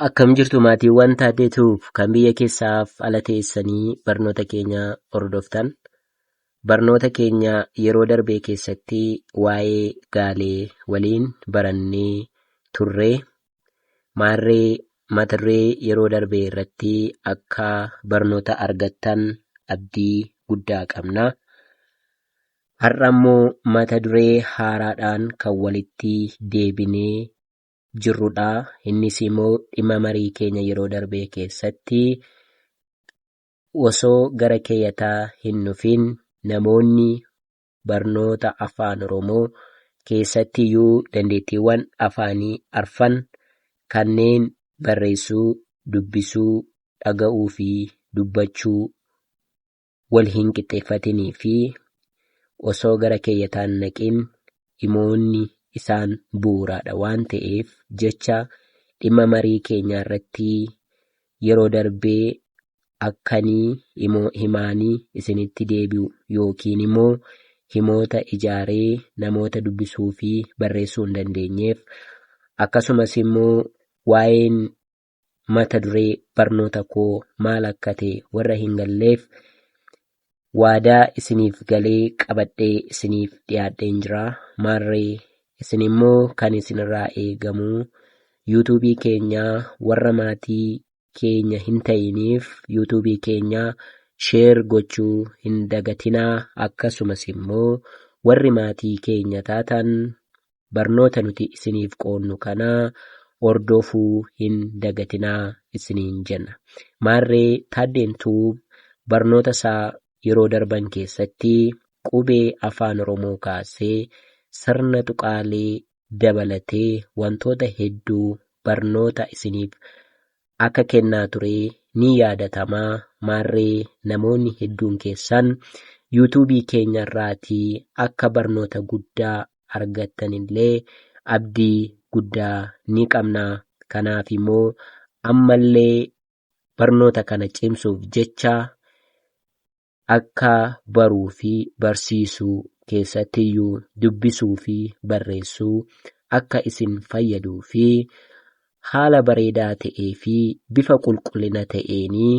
Akkam jirtu maatiiwwan taatee tuuf kan biyya keessaaf ala teessanii barnoota keenya hordoftan. Barnoota keenya yeroo darbee keessatti waa'ee gaalee waliin barannee turre. Maarree matarree yeroo darbee irratti akka barnoota argattan abdii guddaa qabna. Har'a immoo mata duree haaraadhaan kan walitti deebinee jirrudha. Innis immoo dhimma marii keenya yeroo darbee keessatti osoo gara keeyataa hin dhufin namoonni barnoota afaan Oromoo keessatti iyyuu dandeettiiwwan afaanii arfan kanneen barreessuu, dubbisuu, dhaga'uu fi dubbachuu wal hin qixxeeffatinii fi osoo gara keeyyataan naqin dhimoonni isaan bu'uuraadha waan ta'eef jecha dhimma marii keenyaa irratti yeroo darbee akkanii imoo himaanii isinitti deebi'u yookiin immoo himoota ijaaree namoota dubbisuu fi barreessuu hin dandeenyeef akkasumas immoo waa'een mata duree barnoota koo maal akka ta'e warra hin galleef waadaa isiniif galee qabadhee isiniif dhiyaadheen jira maarree isin immoo kan isinirraa eegamu yuutuubii keenya warra maatii keenya hin ta'iniif yuutuubii keenya sheer gochuu hin dagatinaa akkasumas immoo warri maatii keenya taatan barnoota nuti isiniif qoodnu kana hordofuu hin dagatinaa isiniin jenna. Maarree Taaddeen Tuub barnoota isaa yeroo darban keessatti qubee Afaan Oromoo kaasee sirna tuqaalee dabalatee wantoota hedduu barnoota isiniif akka kennaa ture ni yaadatama. Maarree namoonni hedduun keessan yuutuubii keenya irraatii akka barnoota guddaa argattanillee abdii guddaa ni qabna. Kanaaf immoo ammallee barnoota kana cimsuuf jecha akka baruu fi barsiisuu keessattiyyuu dubbisuu fi barreessuu akka isin fayyaduu fi haala bareedaa ta'ee fi bifa qulqullina ta'eenii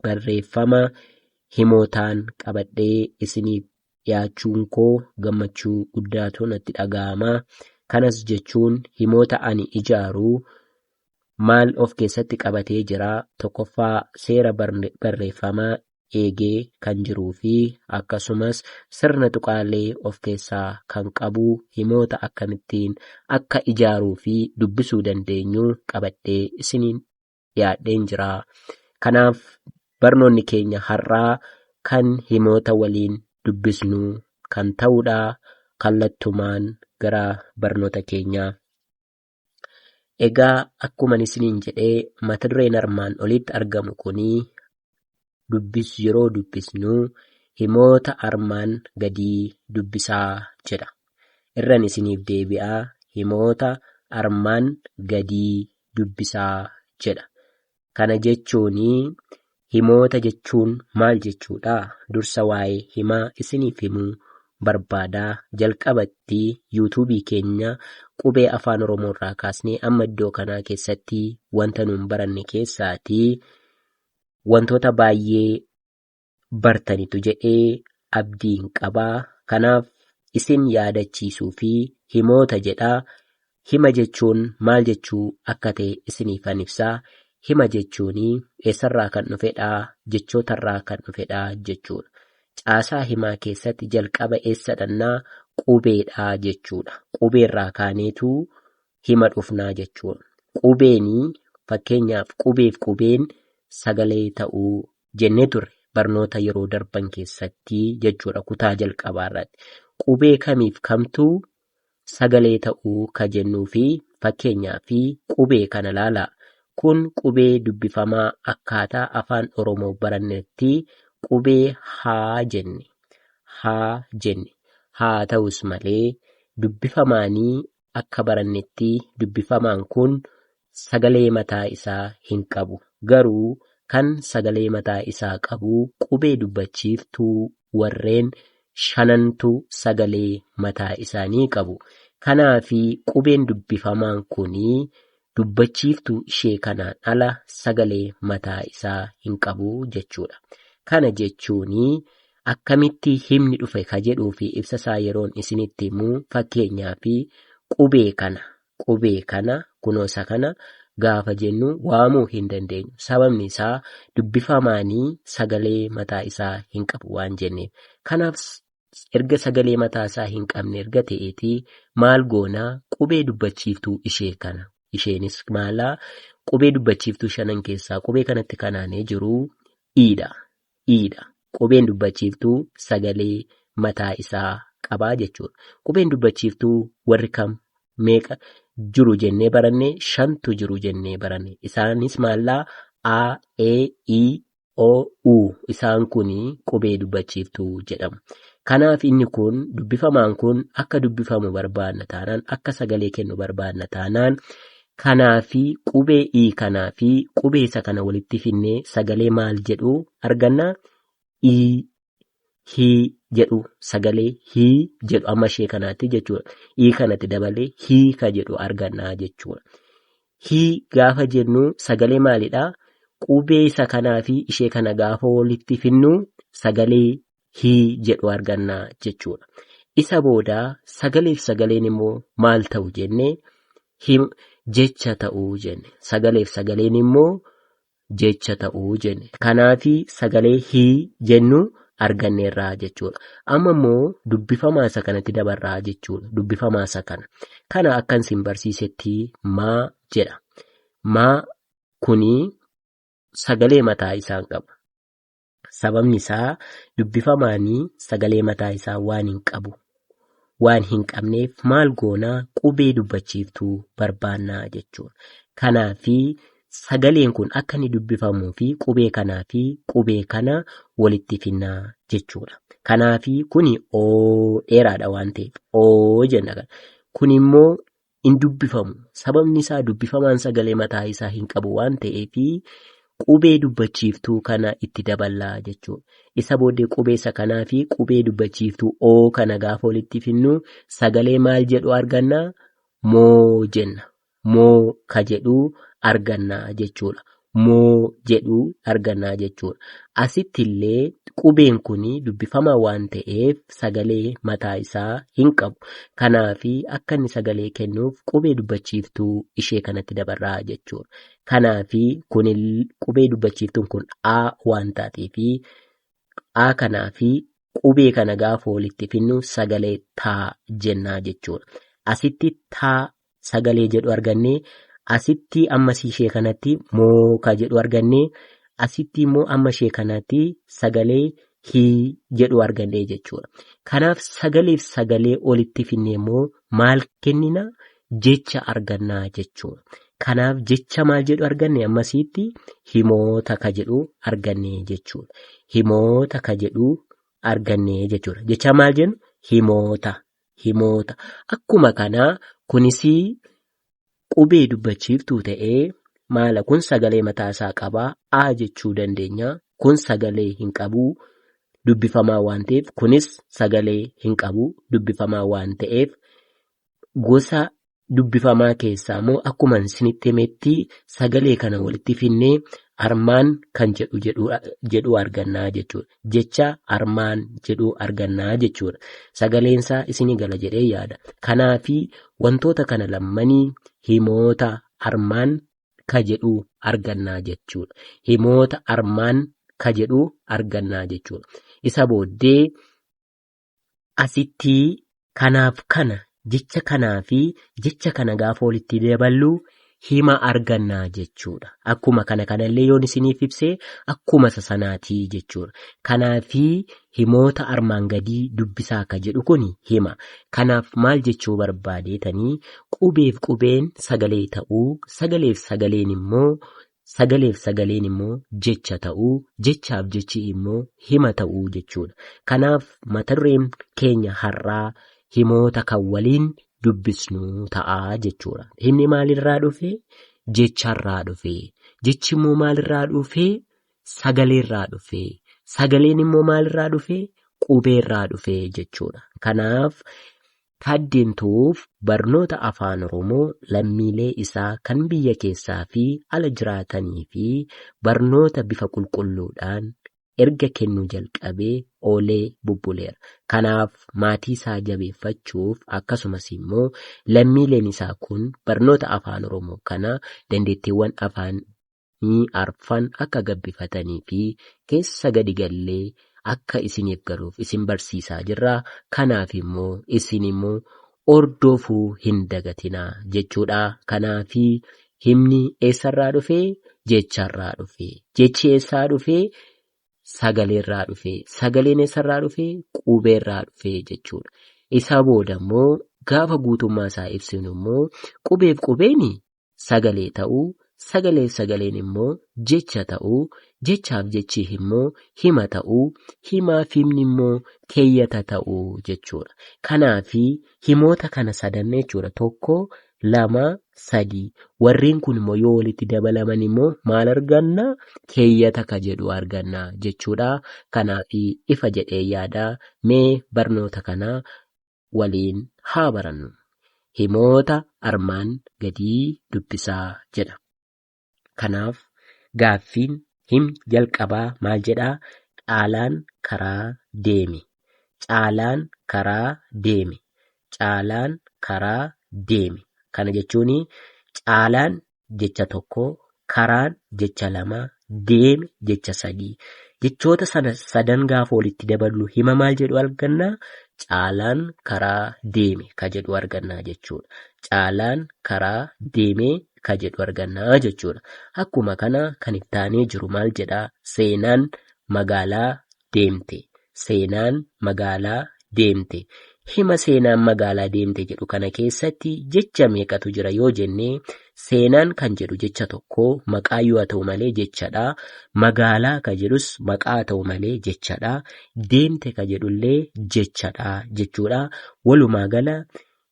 barreeffama himootaan qabadhee isiniif dhiyaachuun koo gammachuu guddaatu natti dhaga'ama. Kanas jechuun himoota ani ijaaru maal of keessatti qabatee jira? Tokkoffaa seera barreeffamaa eegee kan jiruu fi akkasumas sirna tuqaalee of keessaa kan qabu himoota akkamittiin akka ijaaruu fi dubbisuu dandeenyu qabadhee isiniin dhiyaadheen jira. Kanaaf barnoonni keenya har'aa kan himoota waliin dubbisnu kan ta'udha. Kallattumaan gara barnoota keenyaa. Egaa akkuma isiniin jedhee mata dureen armaan olitti argamu kuni dubbis yeroo dubbisnu himoota armaan gadii dubbisaa jedha. Irran isiniif deebi'a himoota armaan gadii dubbisaa jedha. Kana jechuun himoota jechuun maal jechuudha? Dursa waa'ee himaa isiniif himuu barbaada. Jalqabatti yuutuubii keenya qubee afaan oromoo irraa kaasnee amma iddoo kanaa keessatti wanta nuun baranne keessaati wantoota baay'ee bartanitu jedhee abdiin qaba. Kanaaf isin yaadachiisuu fi himoota jedha. Hima jechuun maal jechuu akka ta'e isiniifan ibsa. Hima jechuun eessarraa kan dhufedha? Jechootarraa kan dhufedha jechuudha. Caasaa himaa keessatti jalqaba eessa dhannaa? Qubeedha jechuudha. Qubeerraa kaaneetu hima dhufnaa jechuu qubeenii fakkeenyaaf qubeef qubeen sagalee ta'uu jennee turre barnoota yeroo darban keessatti jechuudha kutaa jalqabaa irratti qubee kamiif kamtuu sagalee ta'uu ka jennuu fi fakkeenyaa fi qubee kana laalaa kun qubee dubbifamaa akkaataa afaan oromoo barannetti qubee haa jenne haa jenne haa ta'us malee dubbifamaanii akka barannetti dubbifamaan kun sagalee mataa isaa hin qabu. Garuu kan sagalee mataa isaa qabu qubee dubbachiiftuu warreen shanantu sagalee mataa isaanii qabu. Kanaafi qubeen dubbifamaan kun Dubbachiiftuu ishee kanaan ala sagalee mataa isaa hin qabu jechuudha. Kana jechuun akkamitti himni dhufe ka jedhuu fi ibsa isaa yeroon isinitti himu fakkeenyaaf qubee kana qubee kana kunoo isa kana gaafa jennu waamuu hin dandeenyu. Sababni isaa dubbifamaanii sagalee mataa isaa hin qabu waan jenneef. Kanaaf erga sagalee mataa isaa hin qabne erga ta'eeti maal goona qubee dubbachiiftuu ishee kana isheenis maalaa qubee dubbachiiftuu shanan keessaa qubee kanatti kanaanee jiru iidha iidha qubeen dubbachiiftuu sagalee mataa isaa qabaa jechuudha qubeen dubbachiiftuu warri kam meeqa jiru jennee baranne shantu jiru jennee baranne isaanis maalaa a e i o, u. Isaan kun qubee dubbachiiftuu jedhamu. Kanaaf inni kun dubbifamaan kun akka dubbifamu barbaadna taanaan akka sagalee kennu barbaadna taanaan kanaa fi qubee i kanaa fi qubee isa kana walitti finnee sagalee maal jedhu arganna i hii jedhu sagalee hii jedhu amma ishee kanaatti jechuudha. Hii kanatti dabalee hii ka jedhu argannaa jechuudha. Hii gaafa jennu sagalee maalidha? Qubee isa kanaa fi ishee kana gaafa walitti finnu sagalee hii jedhu argannaa jechuudha. Isa booda sagalee fi sagaleen immoo maal ta'u jennee him jecha ta'uu jenne. Sagalee fi sagaleen immoo jecha ta'u jenne. Kanaafi sagalee hi jennu arganneerra jechuudha. Amma immoo dubbifamaa isa kanatti dabarra jechuudha. Dubbifamaa isa kana. Kana akkan isin barsiisetti maa jedha. Maa kuni sagalee mataa isaan qaba. Sababni isaa dubbifamaan sagalee mataa isaa waan hin qabu. Waan hin qabneef maal goona qubee dubbachiiftuu barbaanna jechuudha. Kanaaf sagaleen kun akka inni dubbifamuu fi qubee kanaa fi qubee kana walitti finna jechuudha. Kanaaf kuni oo dheeraadha waan ta'eef oo jenna. Kun immoo hin dubbifamu. Sababni isaa dubbifamaan sagalee mataa isaa hin qabu waan ta'eef qubee dubbachiiftuu kana itti daballa jechuudha. Isa booddee qubee isa kanaa fi qubee dubbachiiftuu oo kana gaafa walitti finnu sagalee maal jedhu arganna? Moo jenna. Moo ka jedhu arganna jechuudha. moo jedhu arganna jechuudha. Asitti illee qubeen kun dubbifamaa waan ta'eef sagalee mataa isaa hin qabu. Kanaaf akka inni sagalee kennuuf qubee dubbachiiftuu ishee kanatti dabarra jechuudha. Kanaaf kun qubee dubbachiiftuun kun A waan taateef A kanaa fi qubee kana gaafa walitti finnu sagalee taa jennaa jechuudha. Asitti taa sagalee jedhu arganne asitti amma ishee kanatti mooka jedhu arganne asitti immoo amma ishee kanatti sagalee hii jedhu arganne jechuudha. Kanaaf sagaleef sagalee olitti finne immoo maal kennina jecha argannaa jechuudha. Kanaaf jecha maal jedhu arganne ammasiitti himoota ka jedhu arganne jechuudha. Himoota ka jedhu arganne jechuudha. Jecha maal jennu himoota himoota. Akkuma kanaa kunis qubee dubbachiiftuu ta'ee maala kun sagalee mataa isaa qaba a jechuu dandeenya. Kun sagalee hin qabu dubbifamaa waan ta'eef kunis sagalee hin qabu dubbifamaa waan ta'eef gosa dubbifamaa keessaa immoo akkuma isinitti himetti sagalee kana walitti finnee armaan kan jedhu jedhu jedhu argannaa jechuudha. Jecha armaan jedhu argannaa jechuudha. Sagaleensaa isinii gala jedhee yaada. Kanaafi wantoota kana lammanii himoota armaan ka jedhu argannaa jechuudha. Himoota armaan ka jedhu argannaa jechuudha. Isa booddee Asitti kanaaf kana, jecha kanaa fi jecha kana gaafa walitti daballu hima arganna jechuudha. Akkuma kana kanallee yoon isiniif ibse akkuma isa sanaati jechuudha. Kanaa fi himoota armaan gadii dubbisaa akka jedhu kun hima. Kanaaf maal jechuu barbaadeetanii qubeef qubeen sagalee ta'uu, sagaleef sagaleen immoo Sagaleef sagaleen immoo jecha ta'uu, jechaaf jechi immoo hima ta'uu jechuudha. Kanaaf matadureen keenya har'aa himoota kan waliin dubbisnu ta'a jechuudha. Himni maalirraa dhufe? Jecharraa dhufe. Jechi immoo maalirraa dhufe? Sagaleerraa dhufe. Sagaleen immoo maalirraa dhufe? Qubeerraa dhufe jechuudha. Kanaaf Taaddeen Tuuf barnoota Afaan Oromoo lammiilee isaa kan biyya keessaa fi ala jiraatanii fi barnoota bifa qulqulluudhaan erga kennuu jalqabee oolee bubbuleera. Kanaaf maatii isaa jabeeffachuuf akkasumas immoo lammiileen isaa kun barnoota Afaan Oromoo kana dandeettiiwwan Afaan ni arfan akka gabbifatanii fi keessa gadi gallee akka isiniif galuuf isin barsiisaa jirra. Kanaaf immoo isin immoo ordoofuu hin dagatinaa jechuudha. Kanaaf himni eessarraa dhufee? Jecharraa dhufee. Jechi eessaa dhufee? Sagaleerraa dhufee. Sagaleen eessarraa dhufee? Qubeerraa dhufee jechuudha. Isa booda immoo gaafa guutummaa isaa ibsinu immoo qubeef qubeeni sagalee ta'uu, sagaleef sagaleen immoo jecha ta'uu, jechaaf jechi immoo hima ta'uu, himaaf himni immoo keeyyata ta'uu jechuudha. Kanaaf himoota kana sadan jechuudha. Tokko, lama, sadii. Warreen kun immoo yoo walitti dabalaman immoo maal arganna? Keeyyata ka jedhu arganna jechuudha. Kanaaf ifa jedhee yaada. Mee barnoota kana waliin haa barannu. Himoota armaan gadii dubbisaa jedha. Kanaaf gaaffiin him jalqabaa maal jedhaa? Caalaan karaa deeme. Caalaan karaa deeme. Caalaan karaa deeme. Kana jechuun caalaan jecha tokko, karaan jecha lama, deeme jecha sadii. Jechoota sana sadan gaafa walitti daballu hima maal jedhu arganna? Caalaan karaa deeme ka jedhu arganna jechuudha. Caalaan karaa deeme ka jedhu arganna jechuudha. Akkuma kana kan itti aanee jiru maal jedha? Seenaan magaalaa deemte, seenaan magaalaa deemte. Hima seenaan magaalaa deemte jedhu kana keessatti jecha meeqatu jira yoo jenne seenaan kan jedhu jecha tokko maqaa yoo ta'u malee jechadha. Magaalaa ka jedhus maqaa ta'u malee jechadha. Deemte ka jedhullee jechadha jechuudha. Walumaa gala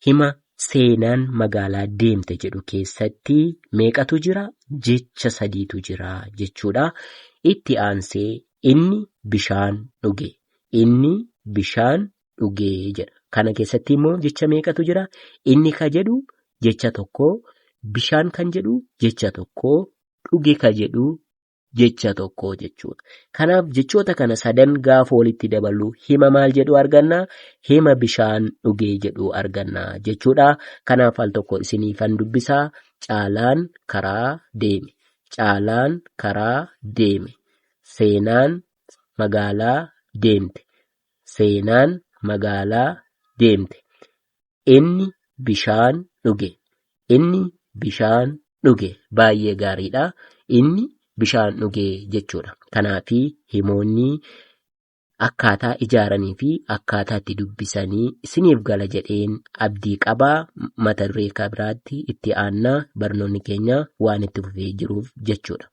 Hima seenaan magaalaa deemte jedhu keessatti meeqatu jira? Jecha sadiitu jira jechuudha. Itti aansee inni bishaan dhuge. Inni bishaan dhuge jedha. Kana keessatti immoo jecha meeqatu jira? Inni ka jedhu jecha tokko, bishaan kan jedhu jecha tokko, dhuge ka jedhu jecha tokko jechuudha. Kanaaf jechoota kana sadan gaafa walitti daballu hima maal jedhu arganna? Hima bishaan dhugee jedhu arganna jechuudha. Kanaaf al tokko isiniifan dubbisaa caalaan karaa deeme. Caalaan karaa deeme. Seenaan magaalaa deemte. Seenaan magaalaa deemte. Inni bishaan dhuge. Inni bishaan dhuge. Baay'ee gaariidha. Inni bishaan dhuge jechuudha. Kanaaf himoonni akkaataa ijaaranii fi akkaataa itti dubbisanii isiniif gala jedheen abdii qaba. Mata duree kan biraatti itti aannaa barnoonni keenya waan itti fufee jiruuf jechuudha.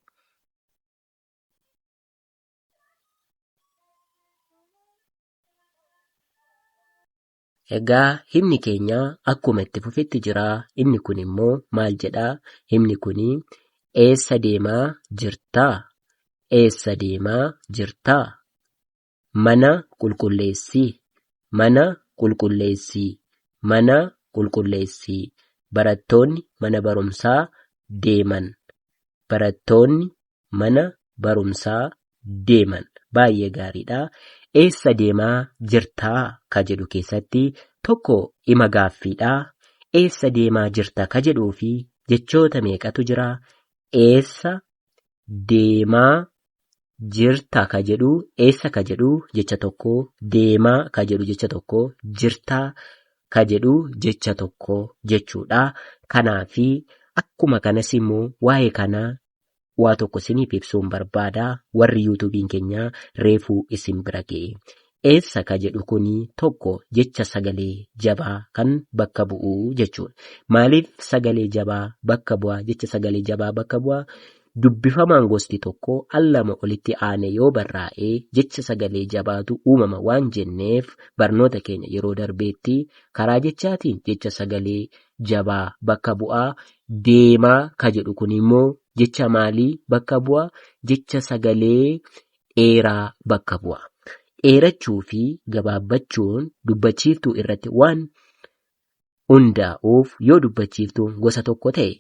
Egaa himni keenya akkuma itti fufetti jira. Inni kun immoo maal jedha? Himni kun eessa deemaa jirtaa? Eessa deemaa jirtaa? Mana qulqulleessii. Mana qulqulleessii. Mana qulqulleessii. Barattoonni mana barumsaa deeman. Barattoonni mana barumsaa deeman baay'ee gaariidha. Eessa deemaa jirtaa ka jedhu keessatti tokko ima gaaffiidha. Eessa deemaa jirta ka jedhuu fi jechoota meeqatu jira? Eessa deemaa jirta ka jedhu eessa ka jedhu jecha tokko deemaa ka jedhu jecha tokko jirtaa ka jedhu jecha tokko jechuudha. Kanaafi akkuma kanas immoo waa'ee kanaa waa tokko isiniif ibsuun barbaada warri yuutuubiin keenya reefuu isin bira ga'e. Eessa ka jedhu kun tokko jecha sagalee jabaa kan bakka bu'u jechuudha. Maaliif sagalee jabaa bakka bu'a jecha sagalee jabaa bakka bu'a? Dubbifamaan gosti tokko al lama olitti aane yoo barraa'e jecha sagalee jabaatu uumama waan jenneef barnoota keenya yeroo darbeetti karaa jechaatiin jecha sagalee jabaa bakka bu'aa deemaa ka jedhu kun immoo jecha maalii bakka bu'a? Jecha sagalee dheeraa bakka bu'a. Dheerachuu fi gabaabbachuun dubbachiiftuu irratti waan hundaa'uuf yoo dubbachiiftuun gosa tokko ta'e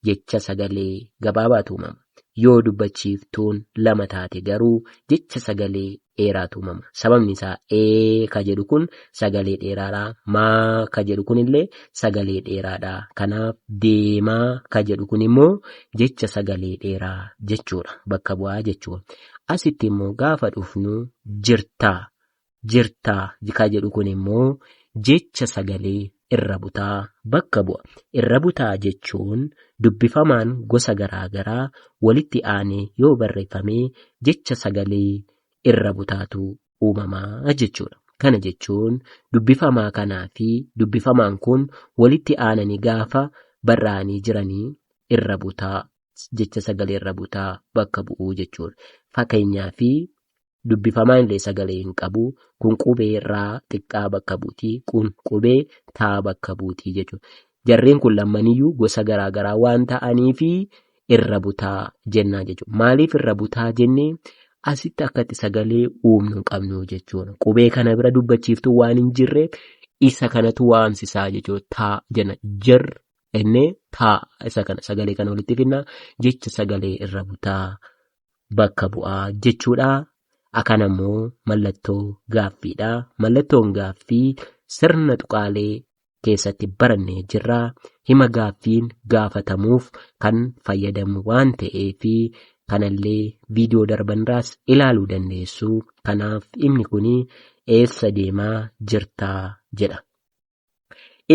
jecha sagalee gabaabaatu uumama. Yoo dubbachiiftuun lama taate garuu jecha sagalee dheeraatu uumama. Sababni isaa ee ka jedhu kun sagalee dheeraadha. Maa ka jedhu kun illee sagalee dheeraadha. Kanaaf deemaa ka jedhu kun immoo jecha sagalee dheeraa jechuudha. Bakka bu'aa jechuun. Asitti immoo gaafa dhufnu jirtaa jirtaa jikaa jedhu kun immoo jecha sagalee irra butaa bakka bu'a. Irra butaa jechuun dubbifamaan gosa garaa garaa walitti aanee yoo barreeffame jecha sagalee irra butaatu uumama jechuudha. Kana jechuun dubbifamaa kanaa fi dubbifamaan kun walitti aananii gaafa barraa'anii jiranii irra butaa jecha sagalee irra butaa bakka bu'uu jechuudha. Fakkeenyaa fi dubbifamaa illee sagalee hin qabu. Kun qubee raa xiqqaa bakka buuti. Kun qubee taa bakka buuti jechuudha. Jarreen kun lammaniyyuu gosa garaa garaa waan ta'aniif irra butaa jennaa jechuudha. Maaliif irra butaa jennee asitti akkatti sagalee uumnu hin qabnu jechuudha. Qubee kana bira dubbachiiftuu waan hin jirre isa kanatu waamsisaa jechuudha. Taa jenna jir ennee taa isa kana sagalee kana walitti finna jecha sagalee irra butaa bakka bu'a jechuudha. Akan ammoo mallattoo gaaffiidha. Mallattoon gaaffii sirna tuqaalee keessatti barannee jirra. Hima gaaffiin gaafatamuuf kan fayyadamu waan ta'eef kanallee viidiyoo darbanirraas ilaaluu dandeessu. Kanaaf himni kun eessa deemaa jirtaa jedha.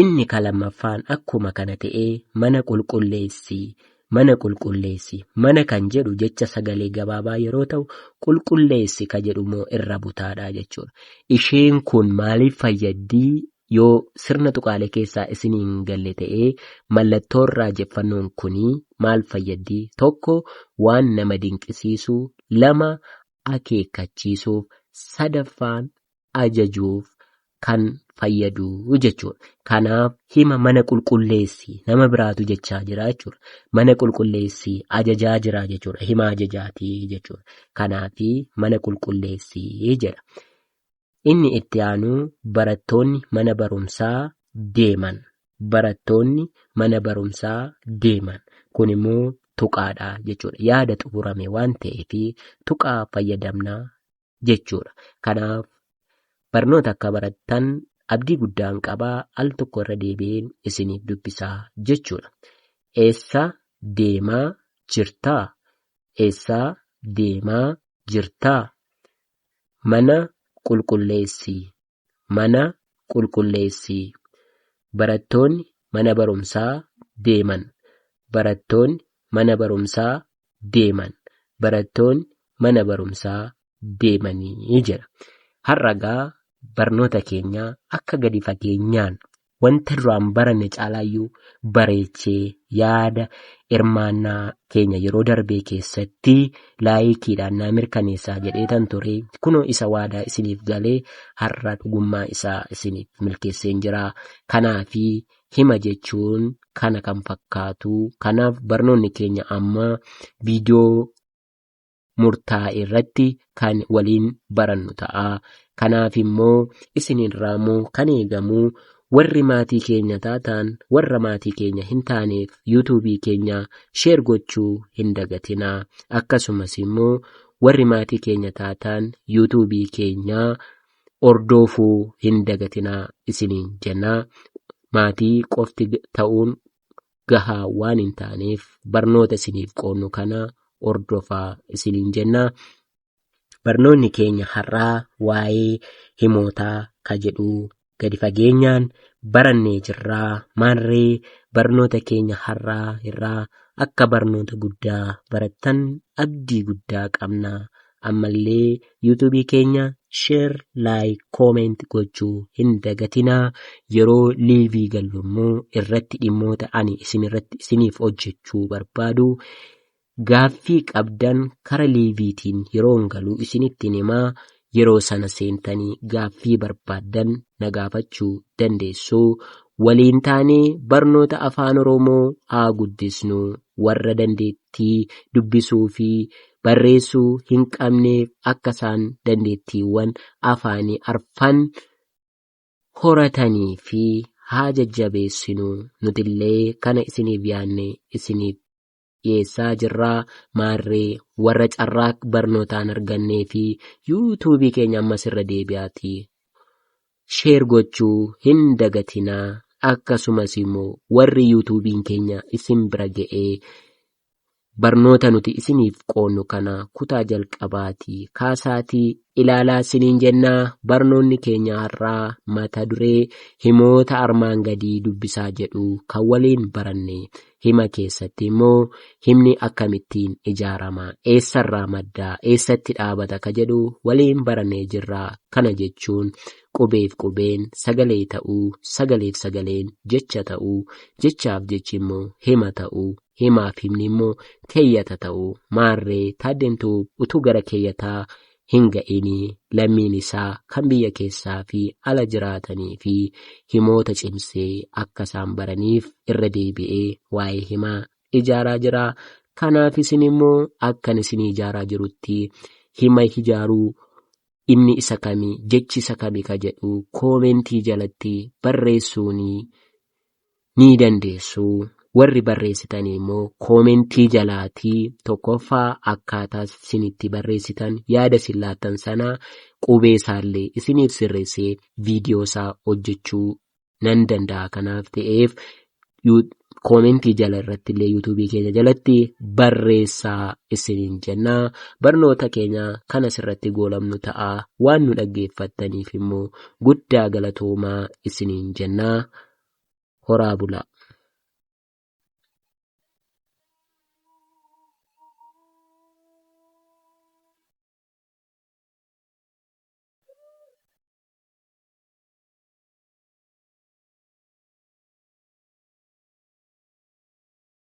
Inni ka lammaffaan akkuma kana ta'ee mana qulqulleessi, mana qulqulleessi, mana kan jedhu jecha sagalee gabaabaa yeroo ta'u, qulqulleessi ka jedhu immoo irra butaadha jechuudha. Isheen kun maaliif fayyaddi? Yoo sirna tuqaalee keessaa isinii hin galle ta'ee mallattoon raajeffannoon kuni maal fayyaddi? Tokko waan nama dinqisiisu, lama akeekkachiisuuf, sadaffaan ajajuuf kan fayyadu jechuudha. Kanaaf hima mana qulqulleessi nama biraatu jechaa jira jechuudha. Mana qulqulleessi ajajaa jira jechuudha. Hima ajajaati jechuudha. Kanaaf mana qulqulleessi jedha. Inni itti aanu barattoonni mana barumsaa deeman. Barattoonni mana barumsaa deeman. Kun immoo tuqaadha jechuudha. Yaada xumurame waan ta'eef tuqaa fayyadamna jechuudha. Kanaaf barnoota akka barattan abdii guddaan qaba al tokko irra deebi'een isiniif dubbisaa jechuudha. Eessa deemaa jirtaa? Eessa deemaa jirtaa? Mana qulqulleessi. mana qulqulleessi. Barattoonni mana barumsaa deeman. Barattoonni mana barumsaa deeman. Barattoonni mana barumsaa deemanii jedha. Har'a gaa barnoota keenya akka gadi fageenyaan wanta duraan baranne caalaayyuu bareechee yaada hirmaannaa keenya yeroo darbee keessatti laayikiidhaan naa mirkaneessaa jedheetan ture kunoo isa waadaa isiniif galee har'a dhugummaa isaa isiniif milkeesseen jira kanaafi hima jechuun kana kan fakkaatu kanaaf barnoonni keenya amma viidiyoo murtaa'e irratti kan waliin barannu ta'a. Kanaaf immoo isinirraa immoo kan eegamu warri maatii keenya taataan warra maatii keenya hin taaneef yuutuubii keenya sheer gochuu hin dagatinaa. Akkasumas immoo warri maatii keenya taataan yuutuubii keenya hordoofuu hin dagatinaa isiniin jenna. Maatii qofti ta'uun gahaa waan hin taaneef barnoota isiniif qoodnu kana hordofaa isiniin jenna. Barnoonni keenya har'aa waa'ee himootaa ka jedhu gadi fageenyaan barannee jirraa maarree barnoota keenya har'aa irraa akka barnoota guddaa barattan abdii guddaa qabna Ammallee YouTube keenya share, like, comment gochuu hin dagatinaa. Yeroo liivii gallu immoo irratti dhimmoota ani isin irratti isiniif hojjechuu barbaadu gaaffii qabdan kara liiviitiin yeroon galuu isinittiin himaa yeroo sana seentanii gaaffii barbaaddan na gaafachuu dandeessu. Waliin taanee barnoota afaan Oromoo haa guddisnu. Warra dandeettii dubbisuu fi barreessuu hin qabneef akka isaan dandeettiiwwan afaanii arfan horatanii fi haa jajjabeessinu nutillee kana isiniif yaadne isiniif dhiyeessaa jirra maarree warra carraa barnootaan argannee fi yuutuubii keenya ammas irra deebi'aatii sheer gochuu hin dagatinaa akkasumas immoo warri yuutuubiin keenya isin bira ga'ee Barnoota nuti isiniif qoonnu kana kutaa jalqabaatii kaasaatii ilaalaa siniin jennaa barnoonni keenya har'aa mata duree himoota armaan gadii dubbisaa jedhu kan waliin baranne hima keessatti immoo himni akkamittiin ijaarama eessarraa madda eessatti dhaabata ka jedhu waliin barannee jirra kana jechuun qubeef qubeen sagalee ta'uu sagaleef sagaleen jecha ta'uu jechaaf jechi immoo hima ta'uu himaaf himni immoo keeyyata ta'u maarree taaddeentu utuu gara keeyyataa hin ga'inii lammiin isaa kan biyya keessaa fi ala jiraatanii fi himoota cimsee akka isaan baraniif irra deebi'ee waa'ee himaa ijaaraa jira kanaaf isin immoo akkan isin ijaaraa jirutti hima ijaaruu inni isa kami jechi isa kami ka jedhu koomentii jalatti barreessuunii ni dandeessu. Warri barreessitanii immoo koomentii jalaatii tokkoffaa akkaataa isin itti barreessitan yaada isin laattan sana qubee isaallee isiniif sirreessee viidiyoo isaa hojjechuu nan danda'a kanaaf ta'eef koomentii jala irratti illee yuutuubii keenya jalatti barreessaa isiniin jenna barnoota keenya kan asirratti goolabnu ta'a waan nu dhaggeeffattaniif immoo guddaa galatoomaa isiniin jennaa horaa bulaa.